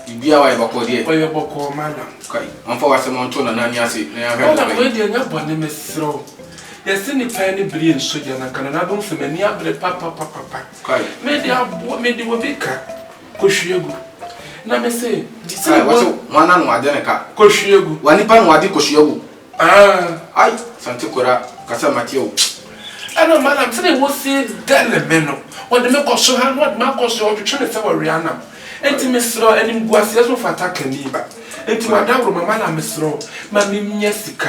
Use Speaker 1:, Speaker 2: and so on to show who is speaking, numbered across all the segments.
Speaker 1: biribiara
Speaker 2: wayɛ bɔkɔɔ
Speaker 1: deɛ ɔyɛ bɔkɔɔ madam
Speaker 2: kai ɔmfa w'asɛm
Speaker 1: ɔnto nana ani ase na yɛahwɛ madam wei deɛ nyɛ bɔne
Speaker 2: mesrɛ wo yɛse nipa ne bere nso deɛ nanka nana dom sɛ m'ani abere papapapapa
Speaker 1: mede aboa
Speaker 2: mede obi ka Kɔhwie gu. Na me se, gye sɛ Ai, wɔse wɔn.
Speaker 1: wɔn ano ade ne ka. Kɔhwie gu. Wɔn nipa no
Speaker 2: wɔn ade kɔhwie
Speaker 1: gu. Aa. Ai, Sante Kora, kasa mate o. Ɛna Malam,
Speaker 2: sɛdeɛ wɔse dɛle me no, wɔde me kɔ so ha na wɔde me akɔ so, wɔtwetwe me sɛ wɔwea nam. Enti mesrɛ wo, animguaseɛ so mfata kani ba. Enti w'adaworoma, Malam mesrɛ wo, ma me nya sika.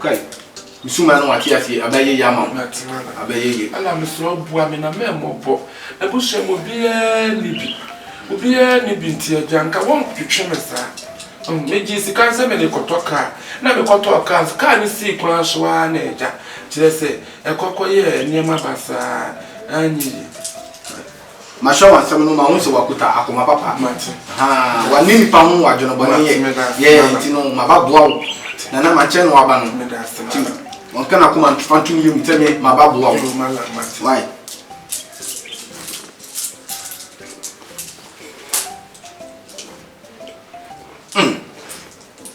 Speaker 1: Kai, mesuma no wate aseɛ, abɛyɛ ye ama wo, abɛyɛ ye. Ala mesrɛ wo boa me
Speaker 2: na mɛmmɔbɔ, abusua mu obiara nni bi, obiara nni bi nti Agya nka wɔntwetwe me saa. Ɔhun, megyee sika no sɛ mede rekɔtɔ kaa, na mekɔtɔɔ kaa nso, kaa no sii kwan so ara na agya, kyerɛ sɛ ɛkɔ kɔyɛɛ nneɛma basaa, anyɛ yie.
Speaker 1: Mahwɛ w'asɛm no mahu sɛ w'akuta akoma papa haa
Speaker 2: w'ane nipa
Speaker 1: ho w'adwene bɔne yɛ yɛ nti no maba boa wo nana mankyɛn no w'aba no nti wɔnka n'akoma nfa ntum yɛ mu sɛ me maba boa wo why mm.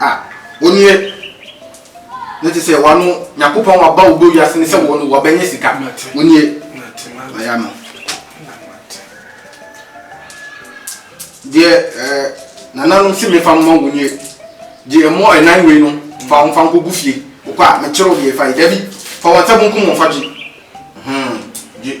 Speaker 1: Ah, wo nie. Ne te sɛ wano Nyankopɔn waba wo bɔ wiase ne sɛ wɔ no wabɛnyɛ sika. Wo nie. Aya no. Deɛ eh, nananom se mefa mma wo nie. Deɛ ɛmɔ ɛnan wei no fa wɔn fa nkɔ gu fie. Wokɔ a mekyerɛ wo deɛ fa yi. Dabi, fa wɔn nsa bonkum wɔn fa gye. Hmm, gye.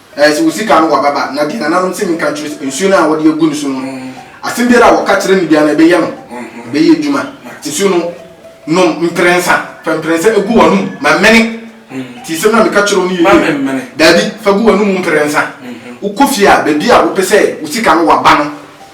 Speaker 1: Eh, sɛ wo sika no wɔ baba, na deɛ nananom se menka nkyerɛ sɛ, nsuo no a wɔde agu no so no, asɛm biara a wɔka kyerɛ no biara no, ɛbɛyɛ no, ɛbɛyɛ adwuma. Nsuo no, nom mprɛnsa, fa mprɛnsa gu w'anom, ma mmene. Nti nsɛm no a meka kyerɛ wo no yɛ yie? Daabi, fa gu w'anom mprɛnsa. Wokɔ fie a, baabi a wopɛ sɛ wo sika no wɔ aba no,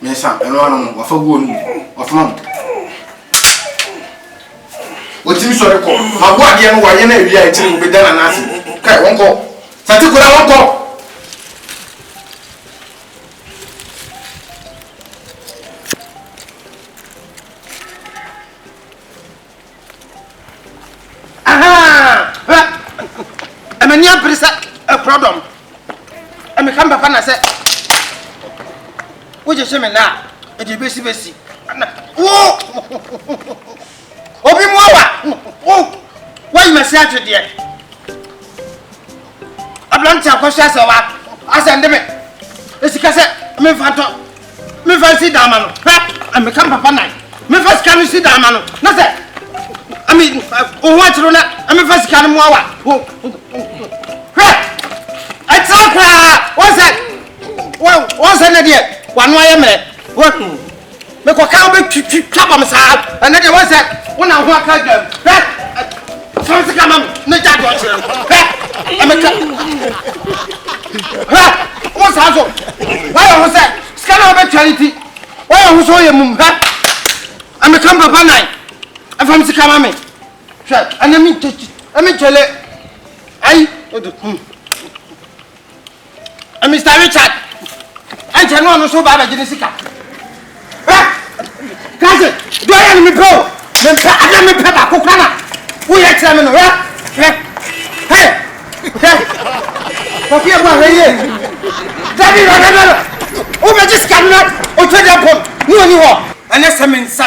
Speaker 1: Mmiɛnsa, ɛno ano no, wafa gu ɔno mu, wafoma mu. Wɔtumi sɔre kɔ, maboa adeɛ no wayɛ no awie a akyire wɔbɛda no anase. Kae, wɔnkɔ. Sate koraa wɔnkɔ.
Speaker 3: Hwɛ! M'ani abere sɛ akurɔdɔm. Meka me papa na sɛ wogyegye me na a, ɛde bɛsi bɛsi. Wo! Obi mu awa! Wo! Woayi m'asi atwedeɛ. aberante akɔhyɛ asɛ wa asɛ nde me esika sɛ memfa ntɔ memfa nsi dan ma no hwɛ meka papa nan memfa sika no si dan ma no na sɛ ami wo ho akyerɛ na memfa sika no mmoa wa hwɛ ɛtena koraa wɔn sɛ wɔn sɛ ne deɛ wano ayɛ mmerɛ wɔn Me kɔ kan bɛ twi twi twa bam saa ɛnɛ deɛ wɔn sɛ wɔn na ho aka dwam hɛ sɔn sika ma mi ne gya dɔ kyerɛ no hɛ ɛmɛ ka hɛ wɔn saa so wɔyɛ ho sɛ sika na wɔbɛ tua ne ti wɔyɛ ho sɛ wɔyɛ mum hɛ ɛmɛ ka papa nan ɛfam sika ma mi hwɛ ɛnɛ mi nkyɛnkyɛn ɛmi nkyɛnlɛ ayi o de kum. Mr Richard ɛnkyɛ ne ɔno nso ba abɛgye ne sika kase deɛ ɔyɛ no mepɛ o mempɛ adeɛ mepɛ baako kora na woyɛ kyerɛ me no hwɛ hwɛ hɛ hwɛ kɔfi ɛbu ahwɛ yie dabi hwɛ hwɛ hwɛ wobɛgye sika no na ɔtwa deɛ pɔm ne ɔni hɔ ɛnɛ sɛ mensa